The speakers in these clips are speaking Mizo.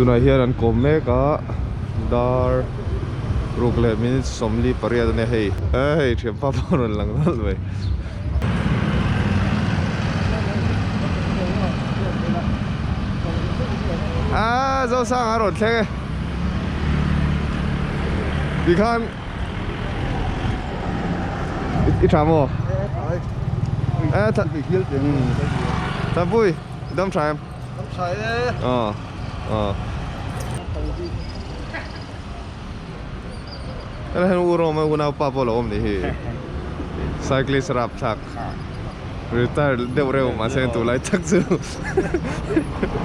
tunah hian an kawm mek a dar ruk leh minute sawmli pariat ania hei hei thianpa pawh a rawn lang nghal mai aaa Zosanga a rawn thleng e ti khan i tha maw? Thapuii. Dam tha em? Dam tha e. Ờ. Ờ. Ela hen u rom u nau pa pawh lo awm ni hi. Cyclist rap thlak. Retire deuh reuh mah se tu lai tak chu.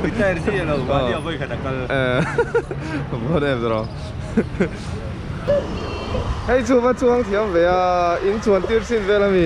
Retire si alo vani a vawi khat a kal. Ờ. Vawt em zro. Hei chunga chuang thiam ve a, in chuan tirhsin vel a mi.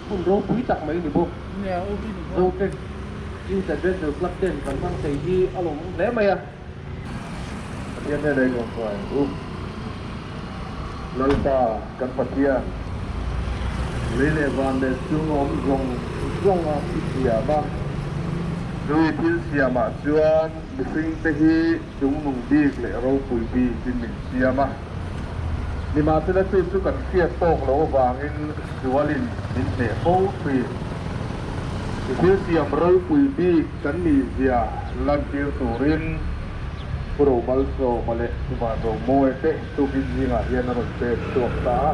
Hmun ropui tak mai ni bawk. Zotrek Youth Adventure Club ten kan hmang thei hi a lawmawm hle mai a. Pathian nena i zawm fai u Lalpa kan Pathian. Lei leh van leh chung a awm zawng zawng a i siam a. Nui thil siamah chuan mihringte hi. Chungnung bik leh ropui bik in min siam a, nimahsela chu chu kan hriat tawk loh avangin sual in min hmeh fo thin. I thil siam ropui bik kan nih zia lantir turin Pu Romal Zawma leh Pu Van Romawi te Tukizingah hian a rawn pek chhuak ta a.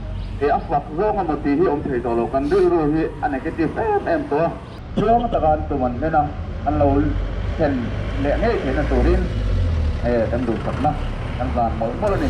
Kei a sak zawng emaw tih hi awm thei tawh lo, kan rilru hi a negative em em tawh. Chuang taka an tum an hlen a, an lo thlen leh ngei theihna turin he kan duhsakna kan zan mawlh mawlh a ni.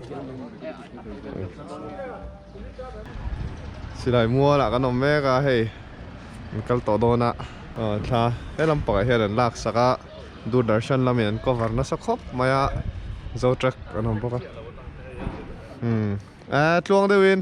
Silai mual ah kan awm mek a hei an kal tawh dawn a thla he lam pangah hian an lak sak a Doordarshan lam in an cover nasa khawp mai a Zotrack an awm bawk a umm aa tluang deuh in.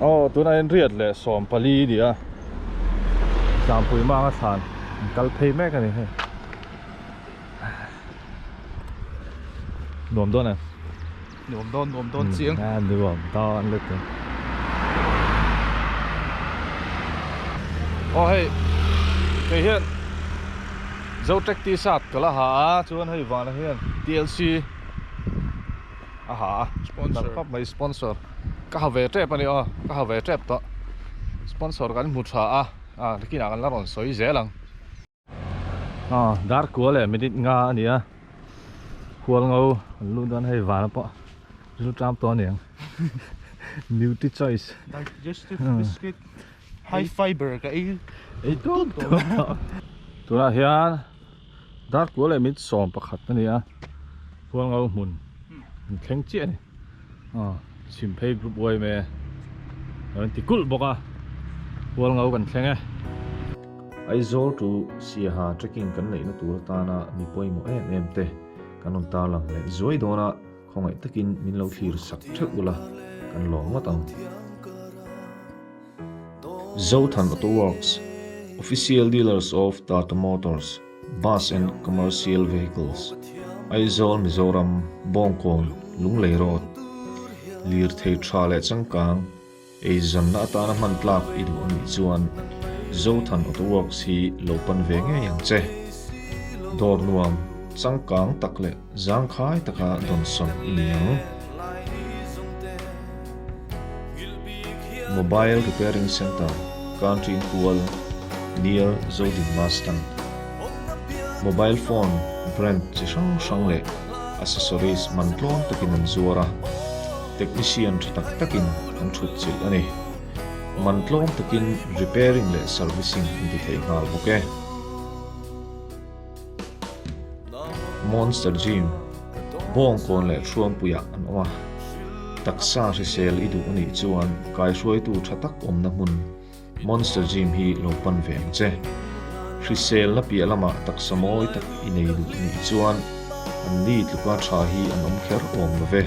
Aw tun a enriat leh sawm pali i nia tlanpui manga thlan an kal phei mek ani hei nuam dawn em nuam dawn nuam dawn chiang a nuam dawn let em aw hei kei hian zotec t-shirt ka la ha a chuan hei vanah hian tlc. a ha a nalh khawp mai sponsor ka ha ve tep a ni aw ka ha ve tep tawh sponsor kan hmu tha a a bikinah kan la rawn sawi zel ang aw dar kual leh minute nga a ni a khual ngo kan luh dawn hei vana pawh rilru tlam tawh a ni ang nutri choice digestive biscuit high fibre ka ei ei tuam tuam a tunah hian Darkua leh mit sawm pakhat a ni a, Khualngo hmun an thleng chiah a ni, aw chhim phei group YMA a rawn ti kulh bawk a, Khualngo kan thleng e. Aizawl to Siaha trekking kan neihna tur atana mi pawimawh em em te kan rawn tarlang leh zuai dawn a. Khawngaih takin min lo thlir sak theuh ula, kan lawm ngawt ang. Zothan Auto Works, Official Dealers of Tata Motors Bus and Commercial Vehicles, Aizawl Mizoram, Bawngkawn, Lunglei Road, Lirthei tha leh changkang, Eizamna atana hman tlak i duh anih chuan Zothan Auto Works hi lo pan ve ngei ang che. Dawr nuam, changkang tak leh zangkhai taka dawnsawn i ni ang. Mobile Repairing Centre, Country in Pual, near Zodin Bus Stand. Mobile phone brand chi hrang hrang leh accessories man tlawn takin an zuar a. Technician tha tak takin an thut chilh a ni. Man tlawm takin repairing leh servicing an ti thei nghal bawk e. Monster Gym, Bawng kawn leh Thruampuiah an awm a. Taksa hrisel i duh a nih chuan kaihruaitu tha tak awmna hmun, Monster gym hi lo pan ve ang che. Hriselna piah lamah taksa mawi tak i nei duh nih chuan an ni tluka tha hi an awm kher awm lo ve.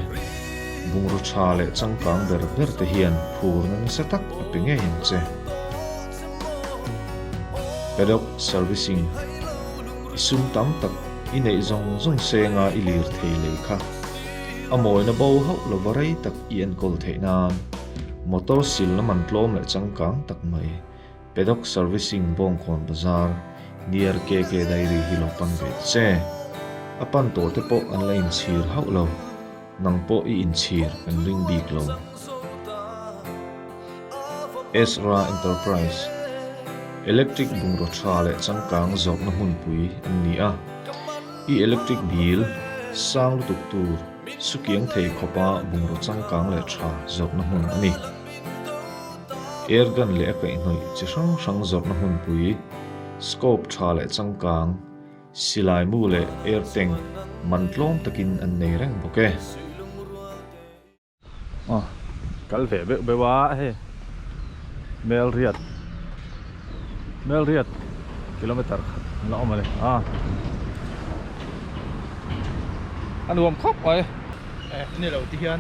Bungraw tha leh changkang ber ber te hian phurna nasa tak a pe ngei ang che. Paddock servicing i sum tam tak i neih zawng zawng senga i lirthei lei kha a mawina bo hauh lova rei tak i enkawl theih nan, Motor sil lam an tlawm leh changkang tak mai. Paddock Servicing Bawngkawn Bazar, near KK Dairy hi lo pan ve ta che. A pan tawh te pawh an la inchhir hauh lo. Nang pawh i inchhir kan ring bik lo. Ezra Enterprise, Electric bungraw tha leh changkang zawrhna hmunpui an ni a. I electric bil sang lutuk tur. Sukiang thei khawpa bungraw changkang leh tha zawrhna hmun a ni. Airgun leh a kaihhnawih chi hrang hrang zawrhna hmunpui, scope tha leh changkang, silaimu leh air tank man tlawm takin an nei reng bawk e. Aw kal ve beuh beuh a hei melriat melriat kilometer khat la awm a ni a a nuam khawp mai e ni lo ti hian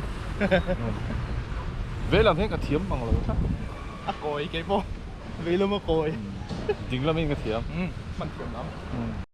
vei lam hian ka thiam mang lo tha a kawi kei pawh vei lam a kawi ding lam in ka thiam hman thiam lam.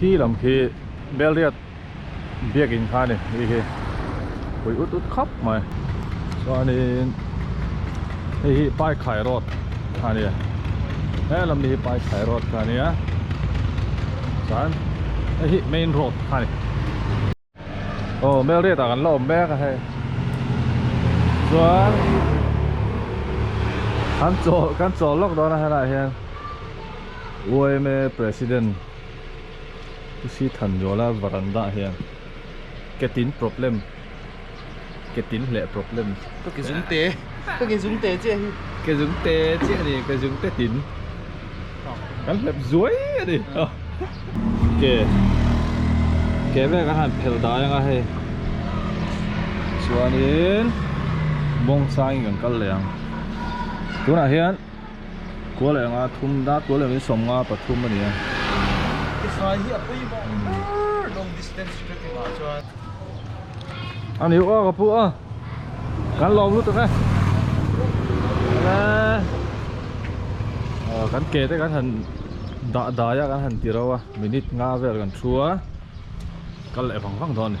khi lam khi belriat biakin kha ni hi hi pui ut ut khap mai chuanin hei hi paikhai road kha ni he lam ni hi paikhai road kha ni a chuan hei hi main road kha ni Aw Melriat ah kan la awm mek a hei chuan kan chawl kan chawl lawk dawn a hela hian yma president Pusithanywala veranda ah hian Cathin problem ke tin hle problem ka ke zung te ka ke zung te chiah hi ke zung te chiah ni ke zung te tin kan hlep zuai a ni ke ke ve kan han phel dai anga hei chuanin bawngsai in kan kal leh ang tunah hian Kual eng a thum da kual eng in sawm nga pathum a ni a. Tifai hi a pui bawk ber long distance trekking ah chuan. A ni aw ka pu a. Kan lawm lut ang e. Aw kan ke te kan han dah dai a kan han ti ro a minute nga vel kan thu a kal leh vang vang dawn a ni.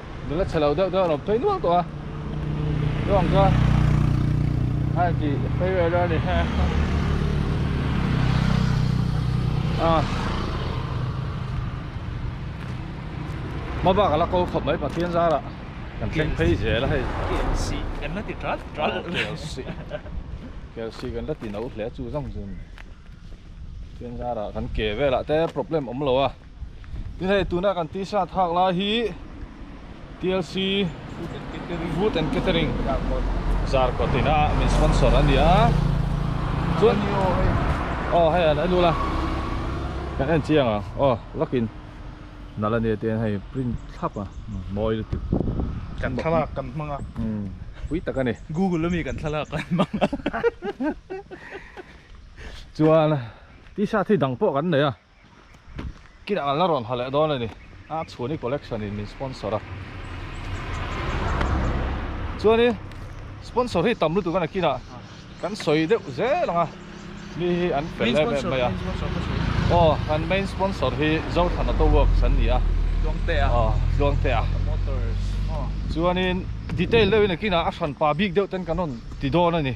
nula chhe lo deuh deuh an awm phei nual tawh a chu ang chuan a en tih phei vel a ni heh a mobak ala kal khawp mai pathian zara kan thleng phei zel a hei kelsi kan la ti tral tral kelsi kelsi kan la ti no hle chu zawng zun pathian zara kan ke velah te problem awm lo a Tin hei tuna kan tih hriat hak lai hi TLC Food and Catering Zarkawt in a min sponsor a ni a. Chuan ni aw hei. Aw hei an elu la. Kan en chiang ang. Aw lakin nala nia te hei print thlap a mawi lutuk. Kan thlalak kan hmang a. Umm pui tak a ni. Google ami kan thlalak kan hmang a. Chuan T-shirt hi dang pawh kan nei a. Kina ngalna rawn ha leh dawn a ni. A chhuan hi collection in min sponsor a. Chuan i sponsor hi tam lutuk a na kina kan sawi deuh zel ang a. Mi hi an fel em em mai a. Aw kan main sponsor hi Zothana Auto Works an ni a. Tluangtea. Aw Tluangtea. Motors. Chuan in detail deuh in a kina a hranpa bik deuh ten kan rawn ti dawn a ni.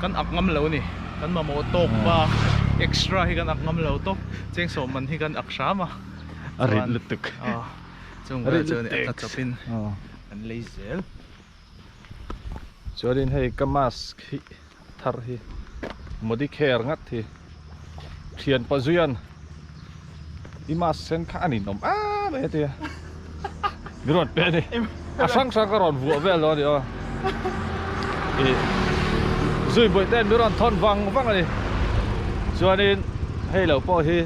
Kan ak ngam lo ni, kan mamawh tawk pa extra hi kan ak ngam lo tawp, cheng sawmman hi kan ak hram a. A rit lutuk. Chung vel chuan a tla chawp in kan lei zel. Chuan in hei ka mask hi thar hi Modicare ngat hi. thian pawh zui an i ma sen kha an inawm a mai atia ni rawn pe ni a hrang hrang ka rawn vuah vel lo ni aw i zui buai ten mi rawn thawn vang vang ani chuanin hei lo pawh hi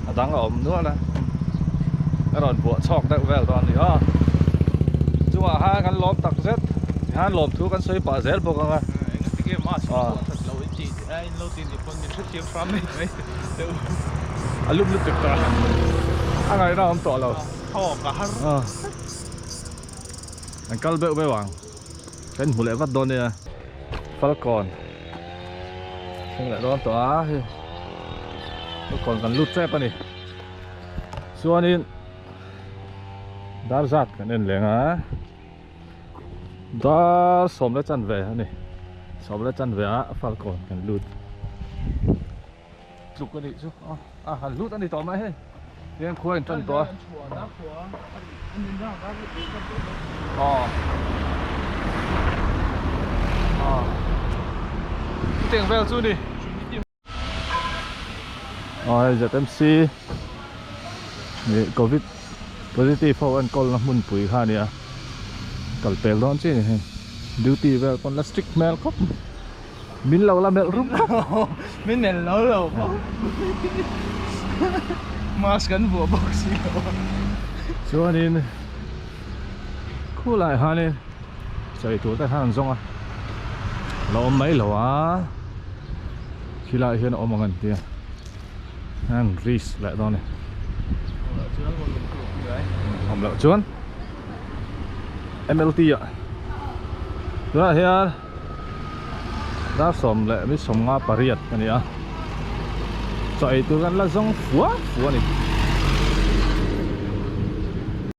a dang a awm nual a a rawn vuah chawk deuh vel dawn ni aw chungah ha kan lawm tak zet han lawm thu kan sawi pah zel bawk anga Aa in lo ti ni pawn min hre thiam hram mai mai te u a lup lutuk ta a ngai ram tawh lo thaw ka har a an kal beuh beuh ang kan hmu leh vat dawn nia falcon thleng leh dawn tawh a hei falcon kan lut chep a ni chuanin dar zat kan en leng a. Dar som le chan ve ani som le chan ve a falcon kan lut tluk ani chu a a han lut ani tawh mai he hian khuai in tan tawh a a a teng vel chu ni zmc leh covid positive ho an call na hmunpui kha nia kal pel dawn chin a hei duty vel pawn la strict hmel khawp min lo la melh rup khawp min melh lo lo pawh mask kan vuah bawk si lo chuanin khulaiah hianin. Sawi tur te khan an zawng a la awm mai lo a khi lai hian a awm ang an tia an ris leh dawn e awm loh chuan MLT a tunah hian dar sawm leh mih sawm nga pariat a ni a chaw ei tur kan la zawng fuah fuah a ni.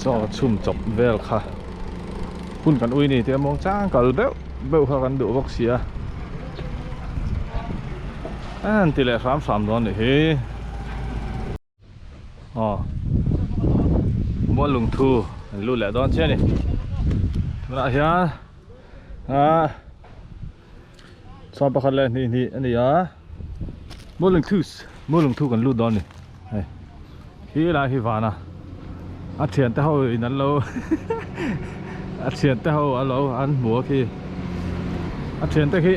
chaw chhum chawp vel kha hun kan ui ni tih a mawng chang kal beuh beuh kha kan duh vak sia an ti leh hram hram dawn nih hi aw mual lung thu an lut leh dawn chiah a ni tunah hian a Chhuan pakhat leh hnih hnih a ni a, Maw Lungthu Maw Lungthu kan lut dawn a ni, hei hi lai hi vana a thiante ho in an lo a thiante ho a lo an hmu a khi a thiante khi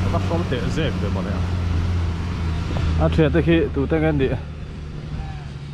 a va sawi teh zek ve mawni a a thiante khi tute ngen nih.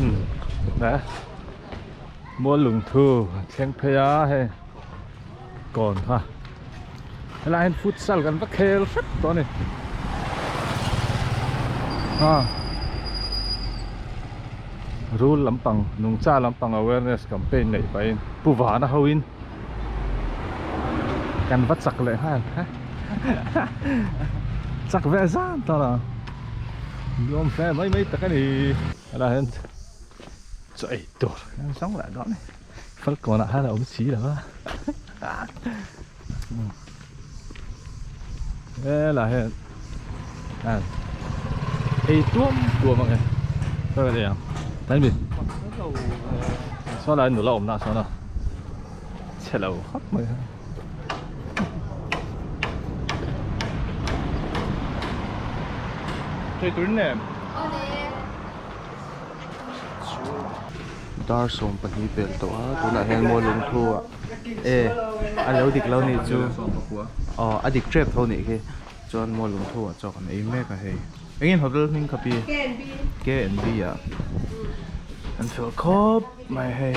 Hmm. Nè. Mua lung thu thleng phei a he. Kon ha. Hala hin futsal kan va khel fat to ni. Ha. Rule lampang nung cha lampang awareness campaign nei pa in pu vana ho in kan va chak leh ha. Chak ve zan ta la. Ni awm hle mai mai tak a ni. A lah hian chaw ei tur hrang hrang lah dawn e. Falkawn ah hian a awm si lo a. He lah hian a ei tuam tuam ang e. Ka vel e ang. Kan be sawn a nula awmna sawn a chhe lo khawp mai a. Hei turin nen. Dar sawm pahnih fel tawh a tunah hian mawi lungthu ah e a lo dik lo nih chu aw a dik tep tho nih khi chuan mawi lungthu ah chuan kan ei mek a hei engin hotel hming kha pi K and B ah an fel khawp mai hei.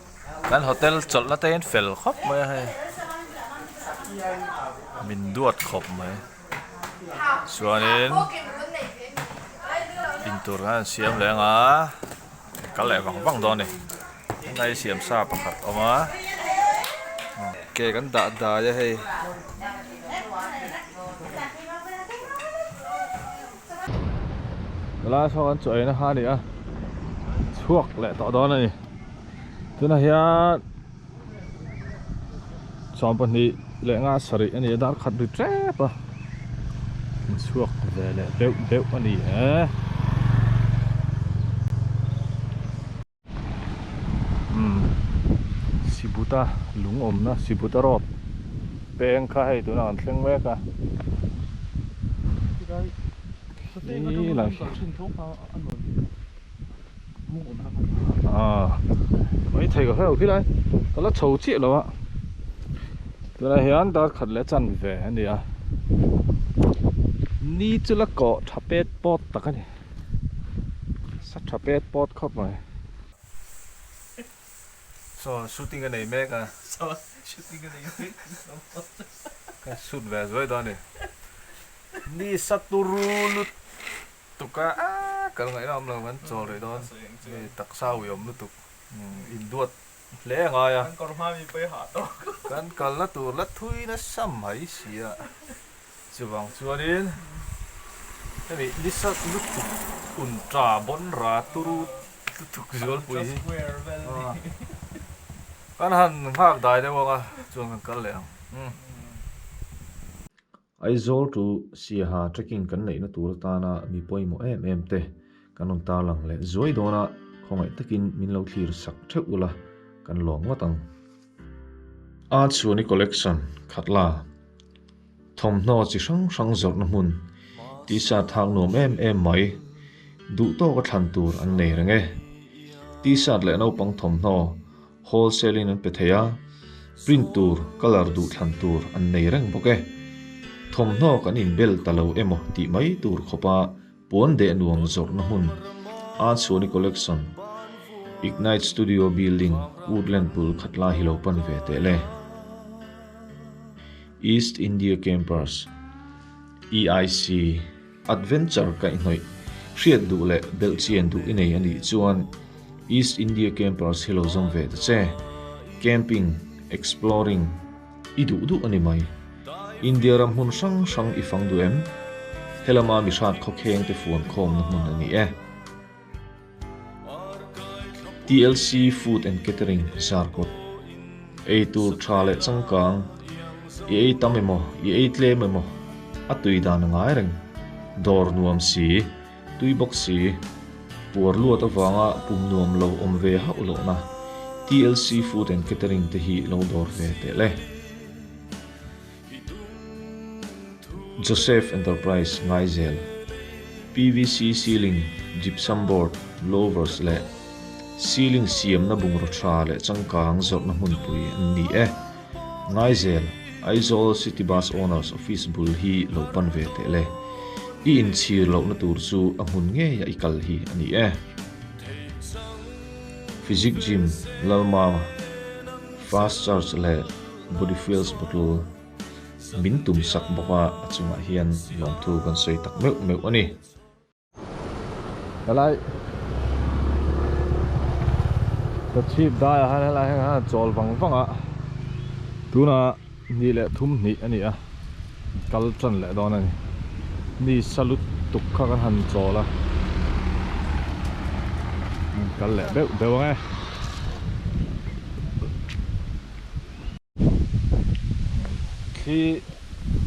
Kan hotel chawlhna te hian fel khawp mai a hei min duat khawp mai chuanin in tur khan an siam leh anga an kal leh vang vang dawn a ni hei siam sa pakhat awm a cake an dah dai a hei. Tuna saw kan chuah eina kha a ni a, chhuak leh tawh dawn a ni. Tunah hian chhuam pahnih leh nga sarih a ni a, dar khat ri hrep a, in chhuak ve leh deuh deuh a ni e. umm sibuta lungawmna sibuta rawt peng kha hei tunah kan thleng mek a ah mai thei ka hrelo khilai ka la chho chiah lo a tunah hian darkhat leh chanve a ni a ni chu la kawh tha pet pawt tak a ni. Sa tha pet pawt khawp mai. Saw shooting a nei mek a. Saw shooting a nei mek a ni lo pawh. Shoot ve zuai dawn a ni. Ni sa turu lut tuk a kal ngaih lam lo kan chawl rih dawn. Ni taksa uiawm lutuk. Induat Hle a ngai a. Kan kawr hma mi pawhin hah tawk. Kan kalna tur la thui nasa mai sia. Chuvang chuanin hemi nisa lutuk un ta bonra turu lutuk zualpui hi kan han nghak dai deuh ang a, chuan kan kal leh ang. Aizawl tu Siaha trekking kan neihna tur atana mi pawimawh em em te kan rawn tarlang leh zuai dawn a, khawngaih takin min lo thlir sak theuh ula kan lawm ngawt ang. Art Suani Collection, Khatla, Thawmhnaw chi hrang hrang zawrhna hmun tih sa thak nuam em em mai, duh tawka thlan tur an nei reng e. T-shirt leh naupang thawmhnaw. Wholesale in an pe thei a, print tur, colour duh thlan tur an nei reng bawk e. Thawmhnaw kan inbel ta lo emaw tih mai tur khawpa puan deh nuam zawrhna hmun, Artsuani Collection, Ignite Studio Building, Woodland bul khat lai hi lo pan ve teh le. East India Campers, EIC, Adventure kaihhnawih hriat duh leh belh chian duh i nei a nih chuan East India Campers hi lo zawm ve ta che. Camping, exploring i duh duh a ni mai. India ram hmun hrang hrang i fang duh em? Helama mi hrat khawkheng te fuan khawmna hmun a ni e. TLC Food and Catering zarkawt ei tur tha leh changkang i ei tam emaw i ei tlem emaw a tui dan a ngai reng dawr nuam si tui bawk si puar luat avanga pum nuam lo awm ve hauh loh na TLC Food and Catering te hi lo dawr ve tehle. Joseph Enterprise ngaizel, PVC ceiling, gypsum board, louvers leh ceiling siamna bungraw tha leh changkang zawrhna hmunpui an ni e. Ngaizel, Aizawl City Bus Owners Office bul hi lo pan ve teh le. I inchhir lohna tur chu a hmun ngei a i kal hi a ni e. Physic Gym, Lalmang, Fast Charge leh. Body Feels Putul min tum sak bawk a, a chungah hian lawmthu kan sawi tak meuh meuh a ni. Helai ka chhip daiah hian helai heng hian a chawl vang vang a, tuna ni leh thum hnih a ni a, kal tan leh dawn a ni, ni sa lut tuk kha kan han chawl a, kal leh beuh beuh ang e. khi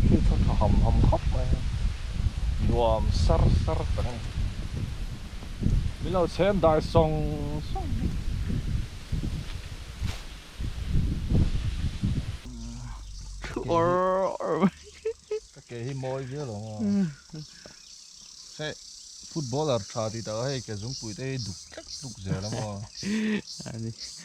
khi tha tha ham ham khap mai nuam sar sar tak ani min lo chhem dai sawng sawng bik thu or or mai ka ke hi mawi viau lo nga he footballer tha ti tak a hei ke zungpuite hi duk tlek tluk zel ang aw ani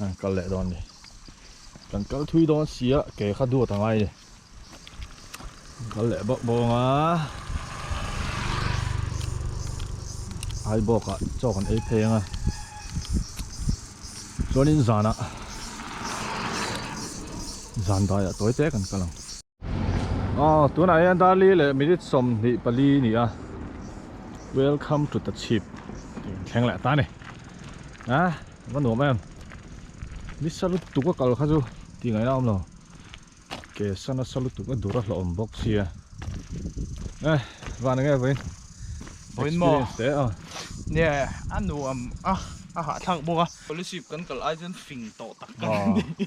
An kal leh dawn ni. Kan kal thui dawn sia ke kha duat angai ni. An kal leh bawk bawk anga. Ai bawka chawk an ei phei anga. Chuanin zana zan daiah tawi te kan kal ang. Aw tunah hian Darli leh minute sawmhnih pali a ni a Welcome to the chhip tih an thleng leh ta a ni a va nuam em ni sa lutuk a kal kha chu tih ngaih na a awm lo ke sana sa lutuk a dur a hlawm bawk sia a van eng nge vawiin experience te a ni a a nuam a a hahthlak bawk a policy kan kalh ai chuan fing tawh tak ka nih.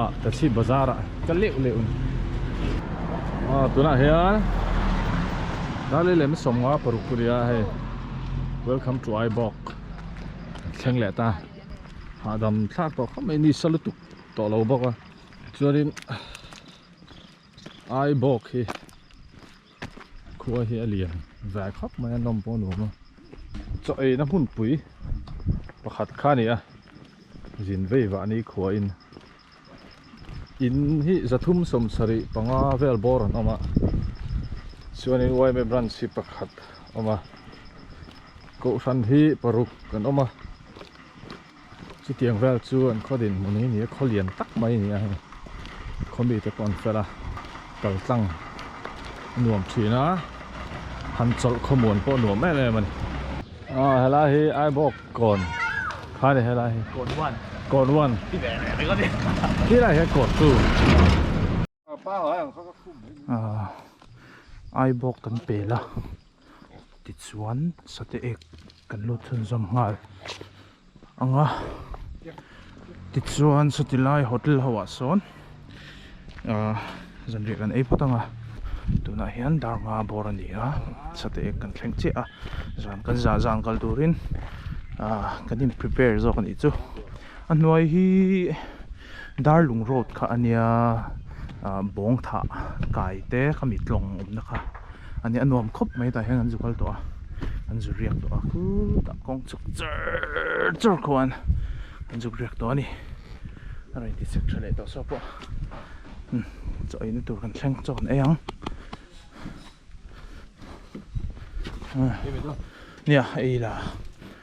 a ka chhip bazar ah ka leuh leuh a ni a tunah hian rally lem sawmnga paruk pawh nia hei welcome to ibok an thleng leh ta hahdam thlak tawh kha mai ni sa lutuk tawh lo bawk a chuanin ibok hi Khua hi a lian ve khawp mai a nawm pawh a nuam a chaw eina hmunpui pakhat kha a ni a zin vei vahni khuain in hi zathum sawm sarih panga vel bawr an awm a chuanin yma branch hi pakhat a awm a kohhran hi paruk an awm a. Chutiang vel chu an khaw din hmun hi ni a, khaw lian tak mai a ni a hei, khaw mi te pawh an fel a, kaltlang a nuam thin a, han chawlh khawmuan pawh a nuam em em a ni. Aw helai hi aibawk kawn kha a ni helai hi. Kawn one. Kawn one. Ti ve ve mai ka ti. Tilai hian kawn two. ai bawk kan pel a tichuan sate ek kan lut chhunzawm nghal ang a tichuan sati lai hotel ho ah sawn ah zanriah kan ei phawt ang a tunah hian darma bawr a ni a sate ek kan thleng chiah a zan kan zah zan kal turin ah kan in prepare zawk a nih chu. A hnuai hi Darlung road kha a nia ah Bawngthah kai te khami tlawng awmna kha a nia a nuam khawp mai a tah hian an zu kal tawh a an zu riak tawh a khutah kawng chhuk char char kho an an zuk riak tawh a ni a rain ti chhek tha leh tawh saw pawh umm chaw eina tur kan thleng chaw kan ei ang ah nia ei la.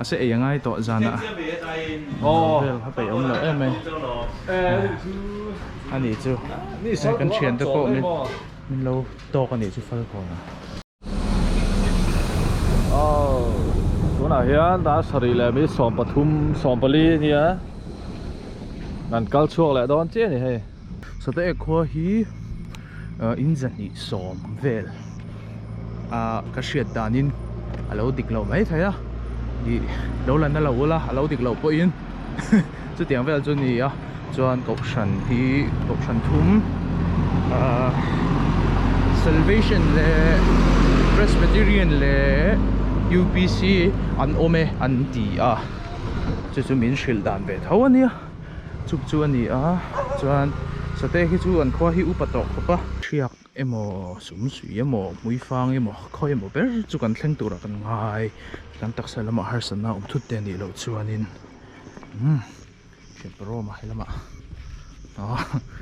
A se ei a ngai tawh zana aww vel kha peih awm loh em mai a nih chu hei kan thian te pawh min min lo tawk a nih chu fal kawn a aww tunah hian ral sarih leh mi sawm pathum sawm pali nia kan kal chhuak leh dawn chiah a ni hei sataek khua hi. in zahnih sawm vel ah ka hriat danin a lo dik loh mai thei a ih lo la na lo ula a lo dik loh pawhin chutiang vel chu nia chuan kohhran hi kohhran thum ah salvation leh presbyterian leh UPC an awm e an ti a chu chu min hrilh dan ve tho a nia. chuk chu a ni a chuan sate khi chu an khuahi upa tawh khawp a thiak emaw sum sui emaw muifang emaw khawi emaw ber chu kan thleng tur ah kan ngai kan taksa lam ah harsat na awm thut te a nih loh chuan in umm hriat ber awm a he lam ah aw.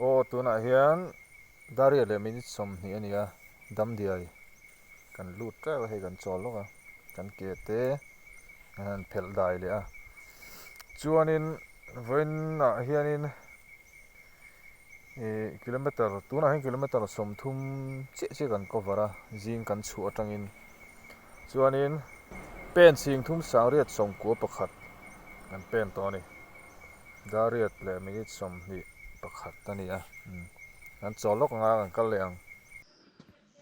Aw, tunah hian Daria leh minute sawmhnih a nia, Damdiai. Kan lut teuh a hei kan chawl lawk a, kan ke te a han phelh dai leh a. Chuanin vawinnah hianin ih kilometre, tunah hian kilometre sawmthum chiah chiah kan cover a, zing kan chhuh atangin. Chuanin pen chhing thum sangriat sawmkua pakhat kan pen tawh a ni. Dariat leh minute sawmhnih pakhat a ni a, kan chaw lawk anga kan kal leh ang.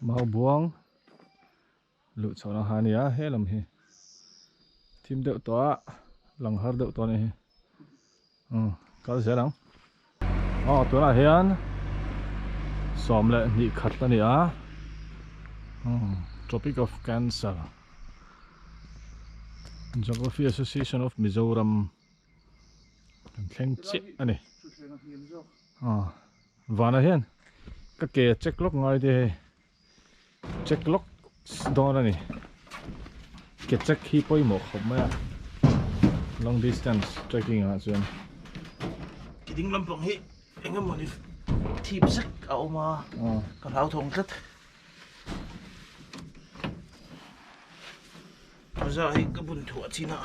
Mau buang luh chho na ha nia he lam hi thim deuh tawh a lang har deuh tawh a ni hi umm kal zel ang aw tunah hian sawm leh hnih khat a ni a umm tropic of cancer geography association of mizoram Kan thleng chiah a ni. Aw vana hian ka ke check lawk ngai te hei check lawk dawn a ni. Ke check hi pawimawh khawp mai a long distance trekking ah chuan. Ke ding lampang hi eng emaw ni thip zet a awm a, ka hlau thawng tlat. Bazaar hi ka bunthuah chin a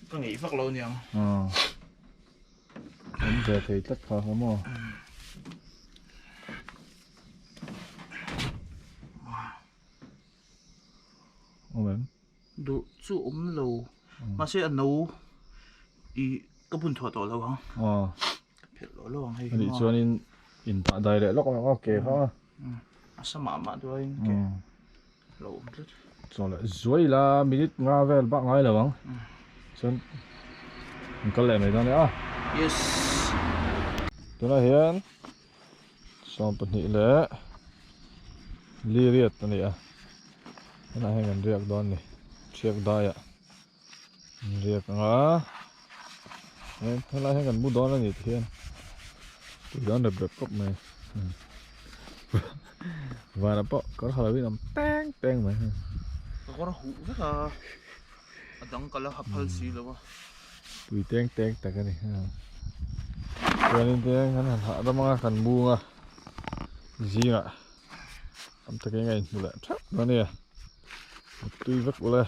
Ka ngeih vak lo niang. Ah. Kan ve thei tlat kha kha maw? Awm em? Duh chu awm lo. Mahse a no i ka bun thuah tawh lo ang. Ah. Ka phelh tawh lo ang hei hi maw? Anih chuanin in pahdai leh lawk lawk a, ke kha. A sam ah mah duai in ke. Chuan a zuai ila minute nga vel bak ngai lo ang chuan an kal leh mai dawn nia yes tunah hian sawm pahnih leh liriat a ni a tunah hian kan riak dawn a ni chhiakdaiah. Inziak anga heng helai hian kan mu dawn a ni tih hian tui dan rep rep khawp mai vana pawh kar ha lovin awm peng peng mai heng ka kawr a huh vek a a dangkal a a phal si lo a tui teng teng tak a ni heng chuanin te hian kan han hah dam anga kan mu anga zingah tam takin a inhmu leh thap mai a ni a tui vek ulai a.